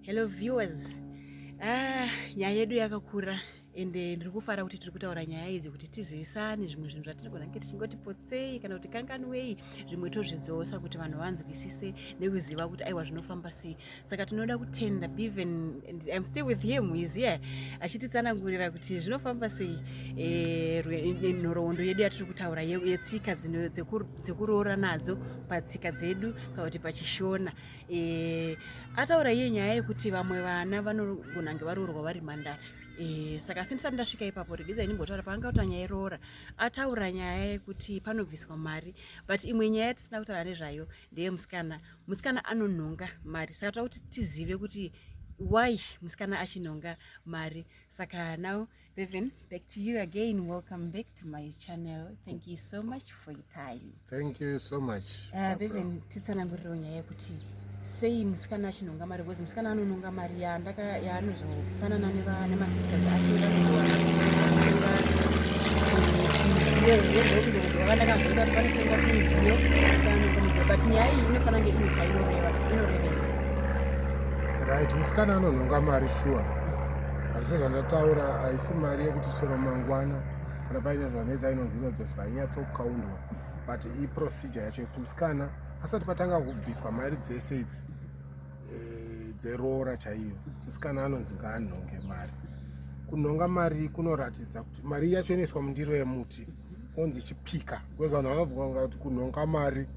Hello viewers. Ah, nyaya yedu yakakura ende ndiri kufara kuti tiri kutaura nyaya idzi kuti tizivisane zvimwe zvinhu zvatinogona kunge tichingoti potsei kana kuti kanganwei zvimwe tozvidzosa kuti vanhu vanzwisise nekuziva kuti aiwa zvinofamba sei saka tinoda kutenda beven im still with him is here achititsanangurira kuti zvinofamba sei eh, eh, nhoroondo yedu yatiri kutaura yetsika dzekuroora nadzo patsika dzedu kana kuti pachishona e, ataura iye nyaya yekuti vamwe vana vanogona nge varoorwa vari mandara e, saka asi ndisati ndasvika ipapo regedza inimbotaura paanga kuti nyaya iroora ataura nyaya yekuti panobviswa mari but imwe nyaya yatisina kutaura nezvayo ndeye musikana musikana anonhonga mari saka toda kuti tizive kuti why musikana achinhonga mari saka now Bevan, back to you again. Welcome back to my channel. Thank you so much for your time. Thank you so much. Uh, Bevan, titsananguriro nyaya yekuti sei musikana achinhonga mari because musikana anononga mari yaanozopanana nemasisters ake vanoatenga midziyo here ndokundokuti vakandakamboita kuti panotengwa tumidziyo musikana anonga midziyo but nyaya iyi inofanira nge ine chainoreva inorevei right musikana anonhonga mari shuwa sure. asi sezvandataura haisi mari yekuti chero mangwana kana paine zvanetsa inonzi inodzoswa hainyatsokaundwa but iprocedure yacho yekuti musikana asati patanga kubviswa mari dzese idzi eh, dzeroora chaiyo musikana anonzi ngaanhonge mari kunhonga mari kunoratidza kuti mari yacho inoiswa mundiro yemuti onzi chipika bcause vanhu vanobvunga kuti kunhonga mari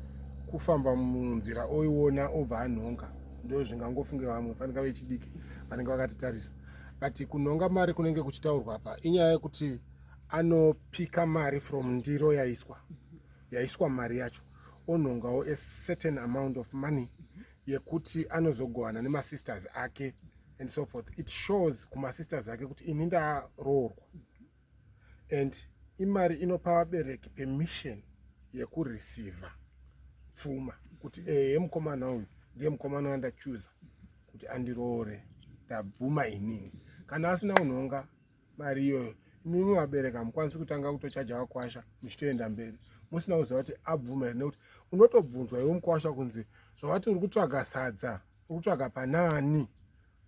kufamba munzira oiona obva anhonga ndo zvingangofunge vamwe fanika vechidiki vanenge vakatitarisa kati kunhonga mari kunenge kuchitaurwa apa inyaya yekuti anopika mari from ndiro yaiswa yaiswa mari yacho onhongawo a certain amount of money yekuti anozogovana nemasisters ake and so forth it shows kumasisters ake kuti ini ndaroorwa and imari inopa vabereki permission yekureceiva pfuma kuti ehe mukomana uyu ndiye mukomana wandachuza kuti andiroore ndabvuma inini kana asina kunhonga mari iyoyo imimi vabereki hamukwanisi kutanga kutochaja vakwasha muchitoenda mberi musina kuziva kuti abvuma here nekuti unotobvunzwa iwe mukwasha kunzi zvavati uri kutsvaga sadza uri kutsvaga panaani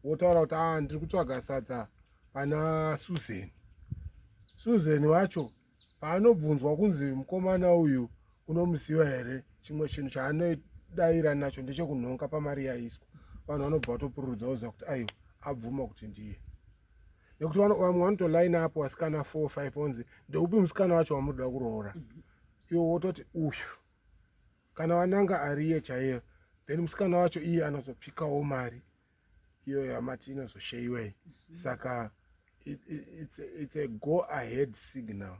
wotaura kuti a ah, ndiri kutsvaga sadza pana Susan. Susan wacho paanobvunzwa kunzi mukomana uyu unomuziva here, chimwe chinhu chaanodaira nacho ndechekunhonga pamari yaiswa. Vanhu vanobva vatopururudza voziva kuti aiwa abvuma kuti ndiye nekuti vamwe vanotoline up vasikana four five onzi ndeupi musikana wacho wamunoda kuroora iwo wototi uyu kana vananga ariye chaiyo then musikana wacho iye anozopikawo mari iyoyo hamati inozosheyiwei saka it, it, it's, a, it's a go ahead signal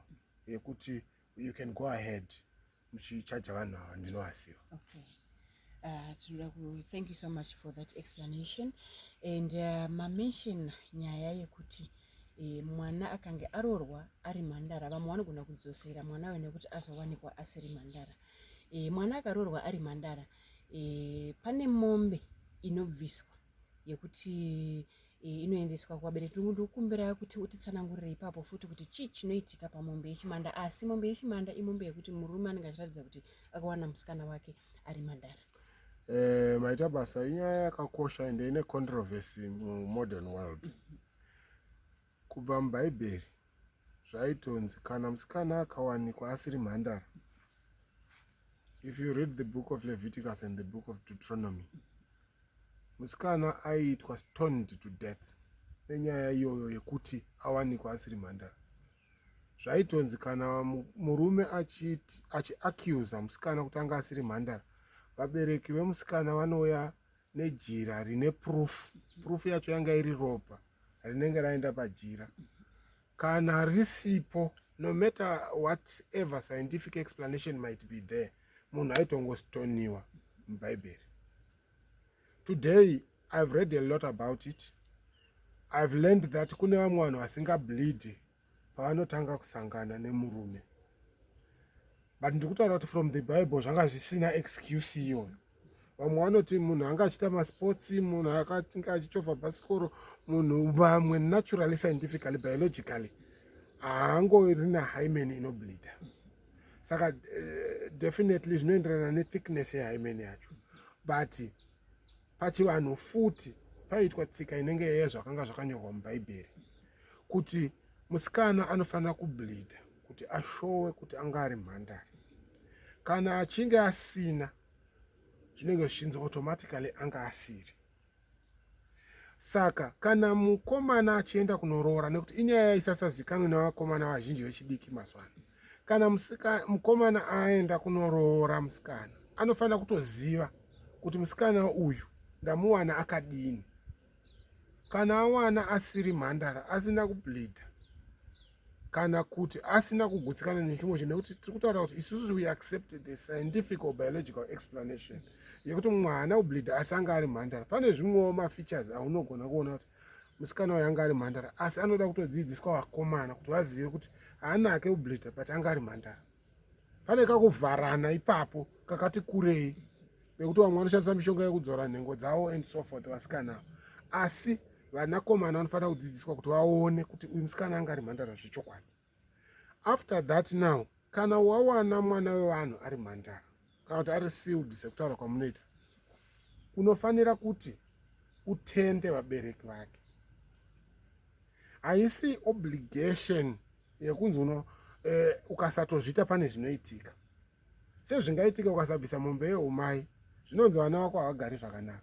yekuti you can go ahead muchichaja vanhu ava ndinovaziva okay. Uh, tinoda ku thank you so much for that explanation and uh, mamention nyaya yekuti e, mwana akange arorwa ari mhandara vamwe vanogona kudzosera mwana we nekuti azowanikwa asiri mhandara e, mwana akarorwa ari mhandara e, pane mombe inobviswa yekuti e, inoendeswa kuvabereki tungu ndikukumbira kuti utitsanangurire ipapo futi kuti chii chinoitika pamombe yechimanda asi mombe yechimanda imombe yekuti murume anenge achiratidza kuti akawana musikana wake ari mandara Eh, maita basa inyaya yakakosha ende ine controversy mumodern world mm -hmm. Kubva muBhaibheri zvaitonzi kana musikana akawanikwa asiri mhandara. If you read the book of Leviticus and the book of Deuteronomy, musikana aiitwa stoned to death nenyaya iyoyo yekuti awanikwa asiri mhandara. Zvaitonzi kana murume achiacusa musikana kuti anga asiri mhandara, vabereki vemusikana vanouya nejira rine proof. Proof yacho yanga iri ropa. rinenge raenda pajira kana risipo no matter whatever scientific explanation might be there munhu aitongostoniwa mubhaibheri today i've read a lot about it i've learned that kune vamwe vanhu vasingableed paanotanga kusangana nemurume but ndikutaura kuti from the bible zvanga zvisina excuse iyoyo vamwe vanoti munhu anga achiita masports munhu akatinge achichovha bhasikoro munhu vamwe naturally scientifically biologically haangori nahymen inoblida saka uh, definitely zvinoenderana nethickness yehymen yacho but Pachivanhu futi paiitwa tsika inenge yezvakanga zvakanyorwa mubhaibheri kuti musikana anofanira kubleeda kuti ashowe kuti anga ari mhandari kana achinge asina zvinenge zvichinzi automatically anga asiri saka kana mukomana achienda kunoroora nekuti inyaya isasazikanwe nevakomana vazhinji vechidiki mazwano kana musika mukomana aenda kunoroora musikana anofanira kutoziva kuti musikana uyu ndamuwana akadini kana awana asiri mhandara asina kubleeda kana kuti asina kugutsikana nechimwe chinhu nekuti tiri kutaura kuti isusu we accept the scientific or biological explanation yekuti mwana ubleeda asanga ari mhandara pane zvimwewo mafeatures aunogona kuona kuti musikana uyu anga ari mhandara asi anoda kutodzidziswa vakomana kuti vazive kuti haanake ublida but anga ari mhandara pane kakuvharana ipapo kakati kurei nekuti vamwe vanoshandisa mishonga yekudzora nhengo dzavo and so forth vasikana avo asi vanakomana vanofanira kudzidziswa kuti vaone kuti uyu musikana anga ari mhandara zvechokwadi after that now kana wawana mwana wevanhu ari mhandara kana kuti ari sealed sekutaura kwamunoita unofanira kuti utende vabereki vake haisi obligation yekunzi uno eh, ukasatozviita pane zvinoitika sezvingaitika ukasabvisa mombe yeumai zvinonzi vana vako havagari zvakanaka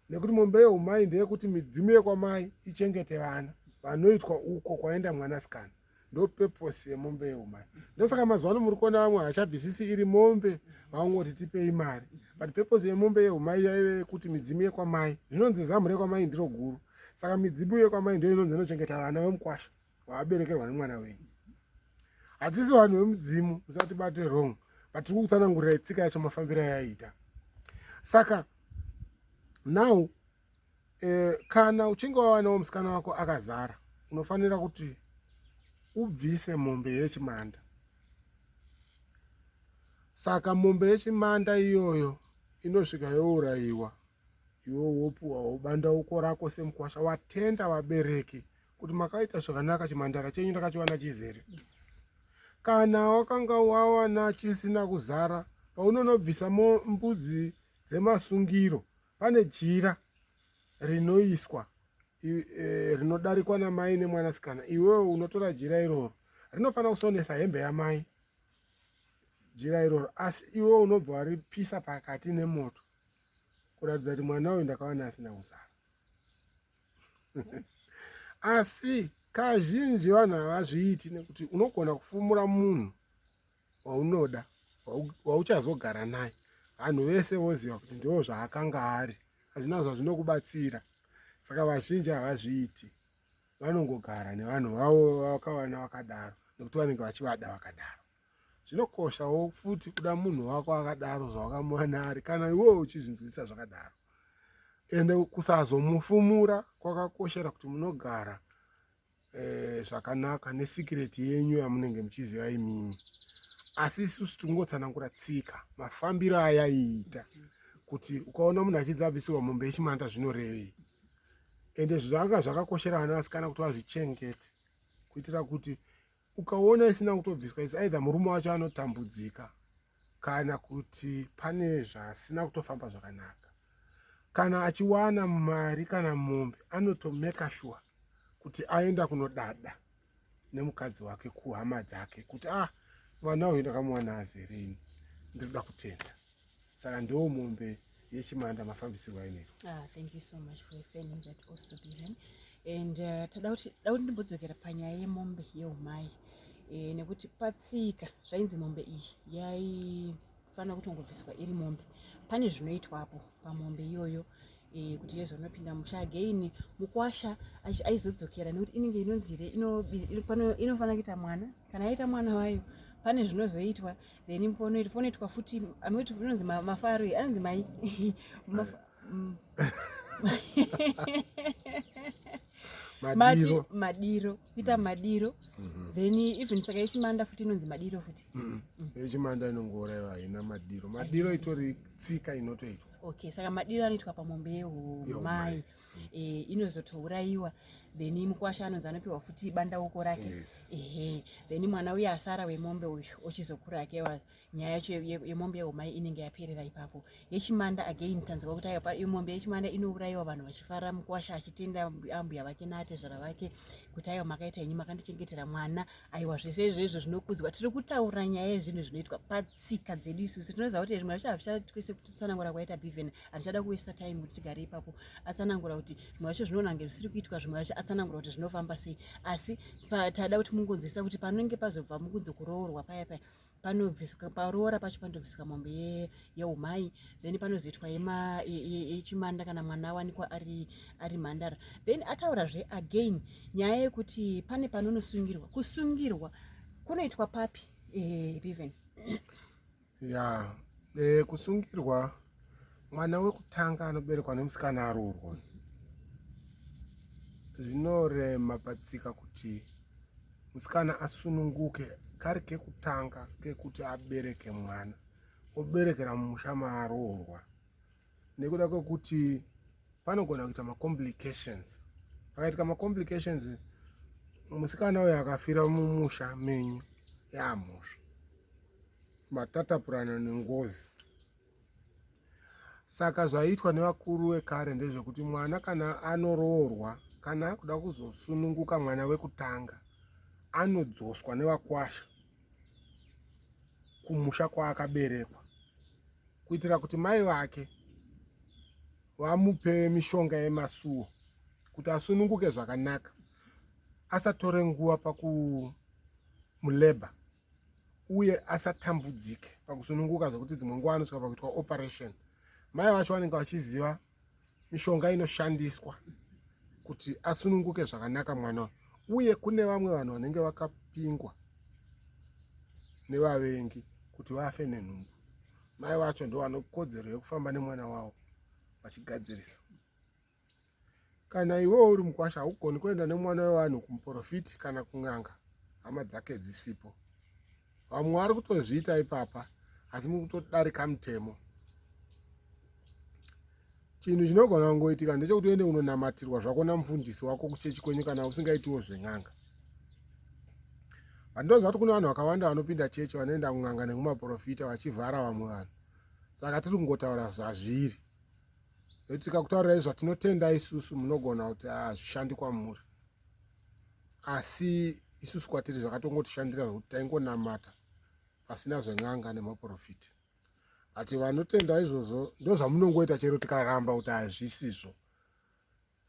nekuti mombe yeumai ndeyekuti midzimu yekwamai ichengete vana vanoitwa uko kwaenda mwanasikana ndopurpose yemombe yeumai ndosaka mazuva ano muri kuona vamwe havachabvisisi iri mombe vaungoti tipei mari but purpose yemombe yeumai yaive yekuti midzimu yekwamai zvinonzi zamu rekwamai ndiro guru saka midzimu yekwamai ndo inonzi inochengeta vana vemukwasha waaberekerwa nemwana wenyu hatisi vanhu vemudzimu musatibate wrong but tiri kukutsanangurira itsika yacho mafambiro ayaiita saka now eh, kana uchinge wawanawo musikana wako akazara unofanira kuti ubvise mombe yechimanda saka mombe yechimanda iyoyo inosvika yourayiwa iwe wopuwa wobanda uko rako semukwasha watenda vabereki kuti makaita zvakanaka chimhandara chenyu ndakachiwana chizere yes. kana wakanga wawana chisina kuzara paunonobvisa mbudzi dzemasungiro pane jira rinoiswa e, rinodarikwa namai nemwanasikana iwewe unotora jira iroro rinofanira kusonesa hembe yamai jira iroro asi iwe unobva waripisa pakati nemoto kuratidza kuti mwana uyu ndakawana asina kuzara asi kazhinji vanhu havazviiti nekuti unogona kufumura munhu waunoda wauchazogara naye vanhu vese voziva kuti ndivo zvaakanga ari hazvina zvazvinokubatsira saka vazhinji havazviiti vanongogara nevanhu vavo vakawana vakadaro nekuti vanenge vachivada vakadaro zvinokoshawo futi kuda munhu wako akadaro zvawakamuwana ari kana iwewo uchizvinzwisisa zvakadaro ende kusazomufumura kwakakoshera kuti munogara eh, zvakanaka nesikireti yenyu yamunenge muchiziva imimi asi isusu tingotsanangura tsika mafambiro ayaiita kuti ukaona munhu achidza abvisirwa mombe yechimanda zvinorevei ende zvanga zvakakoshera vana vasikana kuti vazvichengete kuitira kuti ukaona isina kutobviswa is either murume wacho anotambudzika kana kuti pane zvasina kutofamba zvakanaka kana achiwana mari kana mombe anotomeka shuwa kuti aenda kunodada nemukadzi wake kuhama dzake kuti ah mwana uyu ndakamuwana azerini ndinoda kutenda saka ndo mombe yechimanda mafambisirwa ainoita ah, thank you so much for explaining that also Dylan and uh, tada kuti da kuti ndimbodzokera panyaya yemombe yeumai e, nekuti patsika zvainzi mombe iyi yaifanira kutongobviswa iri mombe pane zvinoitwapo pamombe iyoyo e, kuti yezonopinda musha again mukwasha aizodzokera nekuti inenge inonzi here inofanira kuita mwana kana aita mwana wayo pane zvinozoitwa then mpono iri ponoitwa futi amoti inonzi mafaro iyi anonzi mai mm. madiro madiro kuita mm. madiro mm-hmm. then even saka yechimanda futi inonzi madiro futi mm. yechimanda inongourayiwa haina madiro madiro itori tsika inotoitwa okay saka madiro anoitwa pamombe yehumai eh, inozotourayiwa then mukwasha anonzi anopiwa futi bandauko rake yes. ehe then mwana uye asara wemombe uyu ochizokura akewa nyaya yacho yemombe yeumai inenge yaperera ipapo yechimanda again tanzwa kuti mombe yechimanda inourayiwa vanhu vachifara mukwasha achitenda ambuya vake naatezvara vake kuti aiwa makaita inyi makandichengetera mwana aiwa zvese izvezvo zvinokudzwa tiri kutaura nyaya yezvinhu zvinoitwa patsika dzedu isusu tinoziva kuti zvimwe zvacho hazvichaitwese kutsanangura kwaita bivhen handichada kuwesta time kuti tigare ipapo atsanangura kuti zvimwe zvacho zvinonange zvisiri kuitwa zvimwe zvacho atsanangura kuti zvinofamba sei asi tada kuti mungonzwisisa kuti panenge pazobva mukunzi kuroorwa paya paya panobviswa paroora pacho panotobviswa mombe yeumai then panozoitwa yechimanda kana mwana awanikwa ari, ari mhandara then ataurazve again nyaya yekuti pane panonosungirwa kusungirwa kunoitwa papi eh, even ya e, kusungirwa mwana wekutanga anoberekwa nemusikana aroorwa zvinorema patsika kuti musikana asununguke kari kekutanga kekuti abereke mwana oberekera mumusha maaroorwa nekuda kwekuti panogona kuita macomplications pakaitika macomplications musikana uyo akafira mumusha menyu yaamhosva matatapurana nengozi saka zvaiitwa nevakuru vekare ndezvekuti mwana kana anoroorwa kana akuda kuzosununguka mwana wekutanga anodzoswa nevakwasha kumusha kwaakaberekwa kuitira kuti mai vake vamupe mishonga yemasuwo kuti asununguke zvakanaka asatore nguva pakumuleba uye asatambudzike pakusununguka zvekuti dzimwe nguva anosvika pakuitwa operation mai vacho vanenge vachiziva mishonga inoshandiswa kuti asununguke zvakanaka mwana uye kune vamwe vanhu vanenge vakapingwa nevavengi kuti vafe nenhumbu mai vacho ndo vanokodzero yekufamba nemwana wavo vachigadzirisa kana iwewo uri mukwasha haugoni kuenda nemwana wevanhu kumuprofiti kana kun'anga hama dzake dzisipo vamwe vari kutozviita ipapa asi muri kutodarika mutemo chinhu chinogona kungoitika ndechekuti uende unonamatirwa zvako namufundisi wako kuchechi kwenyu kana usingaitiwo zven'anga vandinoziva kuti kune vanhu vakawanda vanopinda chechi vanoenda kun'anga nekumaprofita vachivhara vamwe vanhu saka tiri kungotaura zvazviri nokuti tikakutaurirai zvatinotenda isusu munogona kuti hazvishandi kwamuri asi isusu kwatiri zvakatongotishandira zvekuti taingonamata pasina zven'anga nemaprofiti ati vanotenda izvozvo ndozvamunongoita chero tikaramba kuti hazvisizvo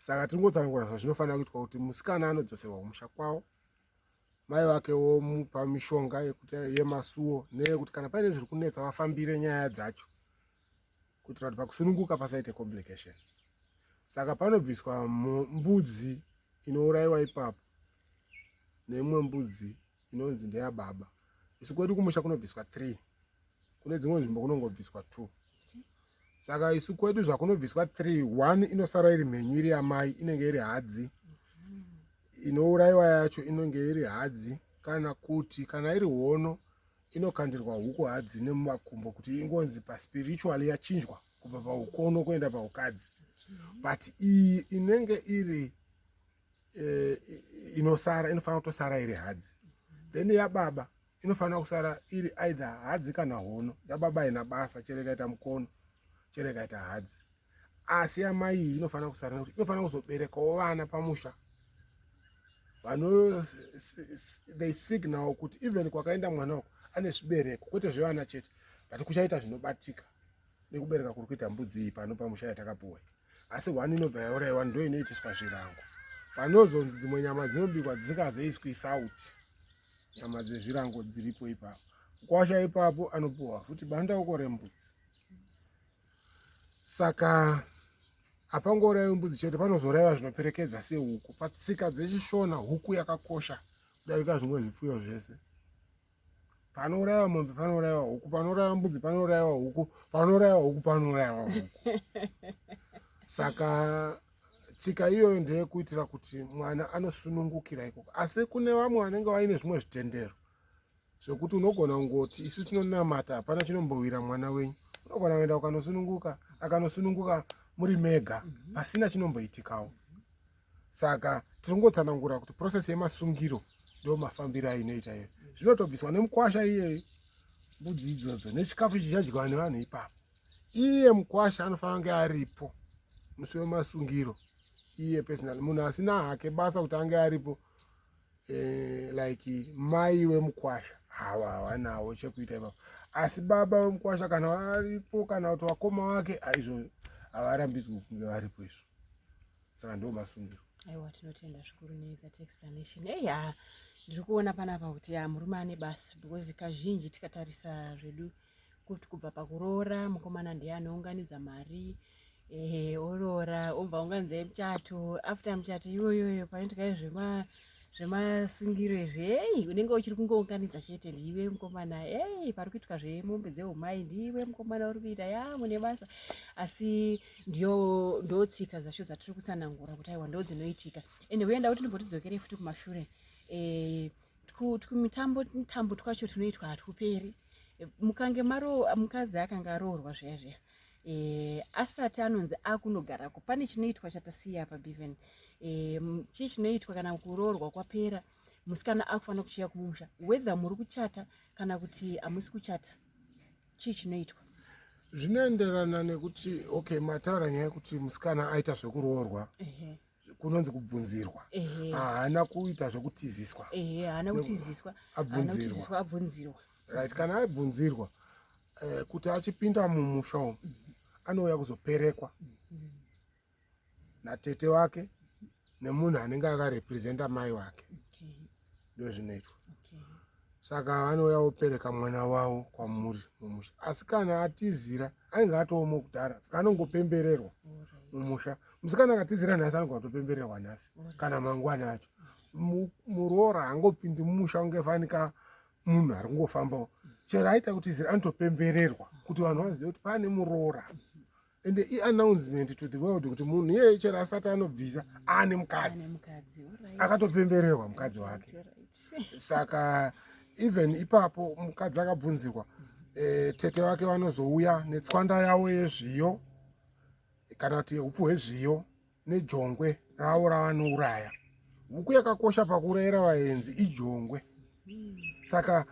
saka tiri ngotsanangura zvazvinofanira kuitwa kuti musikana anodzoserwa kumusha kwavo mai vake womupa mishonga yekuti yemasuwo neyekuti kana paine zviri kunetsa vafambire nyaya dzacho kuitira kuti pakusununguka pasaite complication saka panobviswa mbudzi inourayiwa ipapo neimwe mbudzi inonzi ndeyababa isu kwedu kumusha kunobviswa three kune dzimwe nzvimbo kunongobviswa two saka isu kwedu zvakunobviswa three one inosara iri mhenyu iri yamai inenge iri hadzi inourayiwa yacho inenge iri hadzi kana kuti kana iri hono inokandirwa huku hadzi nemumakumbo kuti ingonzi paspiritual yachinjwa kubva paukono kuenda paukadzi but iyi inenge iri eh, inosara inofanira kutosara iri hadzi then yababa inofanira kusara iri either hadzi kana hono yababa haina basa chero ikaita mukono chero ikaita hadzi asi amai iyi inofanira kusara nekuti inofanira kuzoberekawo vana pamusha vano they signal kuti even kwakaenda mwana uku ane zvibereko kwete zvevana chete but kuchaita zvinobatika nekubereka kuri kuita mbudzi iyi pano pamusha yatakapuwa asi one inobva yauraiwa ndo inoitiswa zvirango panozonzi dzimwe nyama dzinobikwa dzisingazoiswi sauti nyama dzezvirango dziripo ipapo kwasha ipapo anopuwa futi bandauko rembudzi saka hapangourayiwi mbudzi chete panozourayiwa zvinoperekedza sehuku patsika dzechishona huku yakakosha kudarika zvimwe zvipfuyo zvese panourayiwa mombe panourayiwa huku panourayiwa mbudzi panourayiwa huku panourayiwa huku panourayiwa huku saka tsika iyoyo ndeyekuitira kuti mwana anosunungukira ikoko asi kune vamwe vanenge vaine zvimwe zvitendero zvekuti unogona kungoti isu tinonamata hapana chinombowira mwana wenyu unogona kuenda ukanosununguka akanosununguka muri mega pasina chinomboitikawo saka tiri kungotsanangura kuti process yemasungiro ndo mafambiro ainoita iyo zvinotobviswa nemukwasha iyeyo mbudzi idzodzo nechikafu chichadyiwa nevanhu ipapo iye mukwasha anofanira kunge aripo musi wemasungiro iye personal munhu asina hake basa kuti ange aripo eh, like mai wemukwasha hawa hawanawo chekuita ipapo asi baba wemukwasha kana varipo kana kuti vakoma vake aizvo havarambidzwi kunge varipo izvo saka ndo masungiro aiwa tinotenda zvikuru nethat explanation ei ha ndiri kuona panapa kuti ya murume ane basa because kazhinji tikatarisa zvedu kuti kubva pakuroora mukomana ndiye anounganidza mari ehe oroora obva unganidza muchato after muchato iyoyoyo panoitika zvema zvemasungiro izvi ei unenge uchiri kungounganidza chete ndiive mukomana ei pari kuitwa zvemombe dzeumai ndiive mukomana uri kuita ya mune basa asi ndiyo ndotsika dzacho dzatiri kutsanangura kuti aiwa ndo dzinoitika ende huyenda kuti ndimbotidzokere futi kumashure e, tumitambo mitambo twacho tunoitwa hatuperi mukange maro mukadzi akanga aroorwa zviya zviya e, asati anonzi akunogarako pane chinoitwa chatasiya pabiven e, eh, chii chinoitwa kana kuroorwa kwapera musikana akufanira kuchiya kumusha whether muri kuchata kana kuti hamusi kuchata chii chinoitwa zvinoenderana nekuti okay matara nyaya yekuti musikana aita zvekuroorwa uh -huh. kunonzi kubvunzirwa haana kuita zvokutiziswa haana kutiziswa abvunzirwa abvunzirwa right kana abvunzirwa eh, kuti achipinda mumusha umu anouya kuzoperekwa mm-hmm. natete wake nemunhu anenge akarepresenta mai wake ndozvinoitwa okay. saka vanouya vopereka mwana wavo kwamuri mumusha asi kana atizira ainge atoomo kudhara saka anongopembererwa mumusha musikana akatizira nhasi anonge atopembererwa nhasi kana mangwana acho muroora angopindi mumusha ungefanika munhu ari kungofambawo chero aita kutizira anotopembererwa kuti vanhu vazive kuti pane muroora and i announcement to the world kuti munhu iyeye chero asati anobvisa aane mukadzi akatopembererwa mukadzi wake saka even ipapo mukadzi akabvunzirwa e, tete wake vanozouya netswanda yavo yezviyo kana kuti upfu hwezviyo nejongwe ravo ravanouraya huku yakakosha pakurera vaenzi ijongwe saka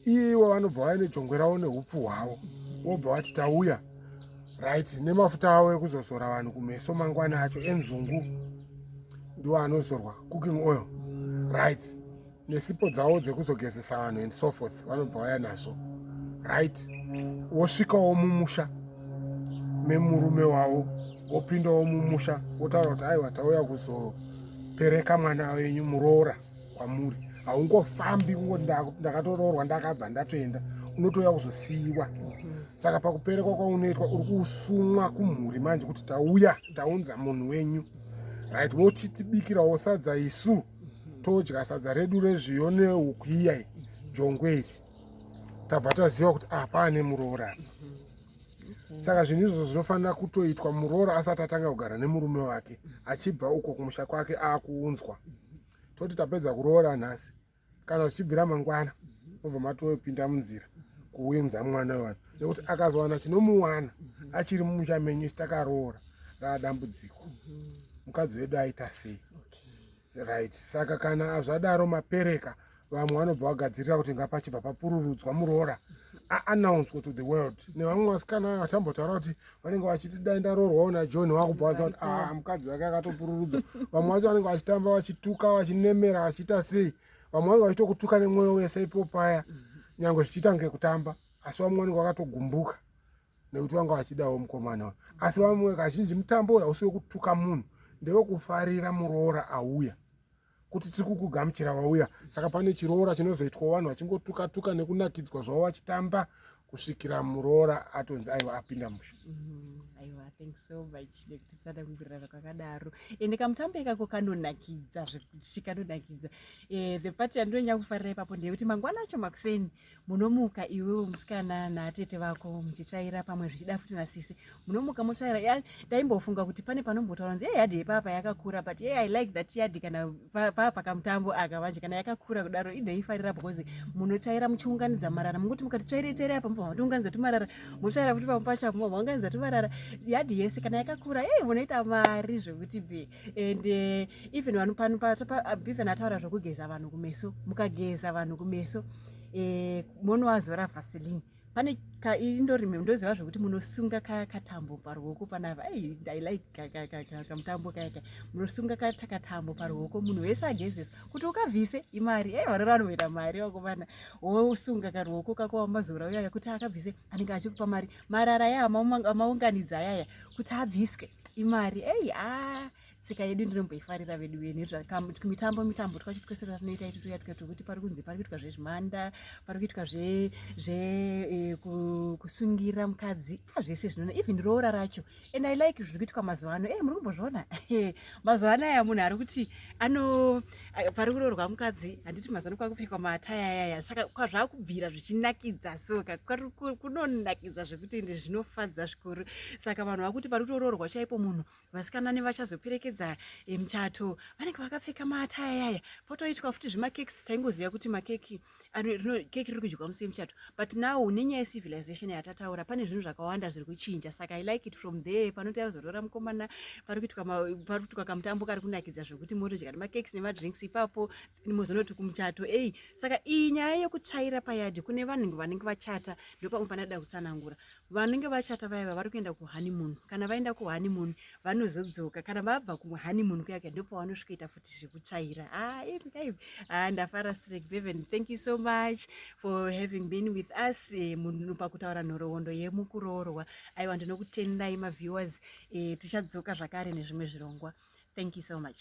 ivo vanobva vaya nejongwe ravo neupfu hwavo vobva vati tauya right nemafuta avo ekuzozora vanhu kumeso mangwana acho enzungu ndiwo anozorwa cooking oil right nesipo dzavo dzekuzogezesa vanhu and so forth vanobva vaya nazvo right wosvikawo mumusha memurume wavo wopindawo mumusha wotaura kuti aiwa tauya kuzopereka mwana wenyu muroora kwamuri haungofambi kungoti ndakatoroorwa ndakabva ndatoenda unotouya kuzosiyiwa saka pakuperekwa kwaunoitwa uri kusumwa kumhuri manje kuti tauya taunza munhu wenyu right wochitibikirawo sadza isu todya sadza redu rezviyo nehuku iyai jongwe iri tabva taziva kuti apa ah, ane muroora apa saka zvinhu izvozvo zvinofanira kutoitwa muroora asati atanga kugara nemurume wake achibva uko kumusha kwake akuunzwa toti tapedza kuroora nhasi kana zvichibvira mangwana obva matopinda munzira kuunza mwana wevanhu nekuti akazowana chinomuwana achiri mumusha menyu sitakaroora raadambudziko mukadzi wedu aita sei right saka kana zvadaro mapereka vamwe vanobva vagadzirira kuti ngapachibva papururudzwa muroora aannouncwe to the world nevamwe vasikana vatambotaura kuti vanenge vachiti dai ndaroorwawo najohn vakubva vaziva kuti ah, mukadzi wake akatopururudzwa vamwe vacho vanenge vachitamba vachituka vachinemera vachiita sei vamwe vanenge vachitokutuka nemwoyo wese ipo paya nyange zvichiita ngekutamba asi vamwe vanenge vakatogumbuka nekuti vanga vachidawo mukomana uyu asi vamwe kazhinji mutambo uyu hausi wekutuka munhu ndewekufarira muroora auya kuti tiri kukugamuchira wauya saka pane chiroora chinozoitwa vanhu vachingotuka tuka nekunakidzwa zvavo vachitamba kusvikira muroora atonzi aiwa apinda musha mm-hmm. aiwa thank so much nekuti tisada kumbirana kwakadaro ende kamutambo ikako kanonakidza zvekuti kanonakidza eh, the party yandinonyanya kufarira ipapo ndeyekuti mangwana acho makuseni munomuka iwewe musikana naatete vako muchitsvaira pamwe zvichida futi nasisi munomuka motsvaira taimbofunga kuti pane panombotaura nzi yeyadhi yepapa yakakura but yey i like that yadhi kana paa pakamutambo aka vanje kana yakakura kudaro inoifarira because munotsvaira muchiunganidza marara munguti mukati tsvairei tsvairei apa mubva matiunganidza tumarara motsvaira futi pamwe pacho apo mubva maunganidza tumarara yadhi yese kana yakakura yey munoita mari zvekuti bee and uh, even vanhu pano pabeven ataura zvokugeza vanhu kumeso mukageza vanhu kumeso eh, monoazora vaseline pane kaindorime ndoziva zvekuti munosunga katambo paruoko panava ei ndilike kamutambo kayaka munosunga katakatambo paruoko munhu wese agezesa kuti ukavhise imari ei varora anoita mari vakomana wosunga karuoko kako wamazora uyaya kuti akavhise anenge achikupa mari marara aya amaunganidza ayaya kuti abviswe imari ei a ah, tsika yedu ndinomboifarira vedu vene mitambo mitambo twacho twese twatinoita iti tuya tukaita kuti pari kunzi pari kuitwa zvezvimanda pari kuitwa zve zve eh, kusungira mukadzi a ah, zvese zvinoona even roora racho and i like zviri kuitwa mazuva ano e muri kumbozviona mazuva ano aya munhu ari kuti ano pari kuroorwa mukadzi handiti mazuva ano kwakupfekwa mataya ayaya saka kwazvakubvira zvichinakidza so kunonakidza zvekuti ende zvinofadza zvikuru saka vanhu vakuti pari kutoroorwa chaipo munhu vasikana nevachazoperekedza eh, muchato vanenge vakapfeka mataya ayaya potoitwa futi zvemakekisi taingoziva kuti makeki keke riri kudyiwa musi wemuchato but now nenyaya yecivilization yatataura pane zvinhu zvakawanda zviri kuchinja saka i like it from there panoti azotora mukomana pari kuitwa kamutambo kari kunakidza zvekuti motodya nemakekes nemadrinks ipapo mozonoti kumuchato ei saka iyi nyaya yekutsvaira payadi kune vanhu vanenge vachata ndopamwe panoda kutsanangura Vanenge vachata vaya vavari kuenda kuhoneymoon kana vaenda kuhoneymoon vanozodzoka kana vabva kuhoneymoon kuya kuya ndipo vanosvikoita futi zvekutsvaira ah, ah, ndafara strek beven thank you so much for having been with us eh, munhu pakutaura nhoroondo yemukuroorwa aiwa ndinokutendai maviewers eh, tichadzoka zvakare nezvimwe zvirongwa thank you so much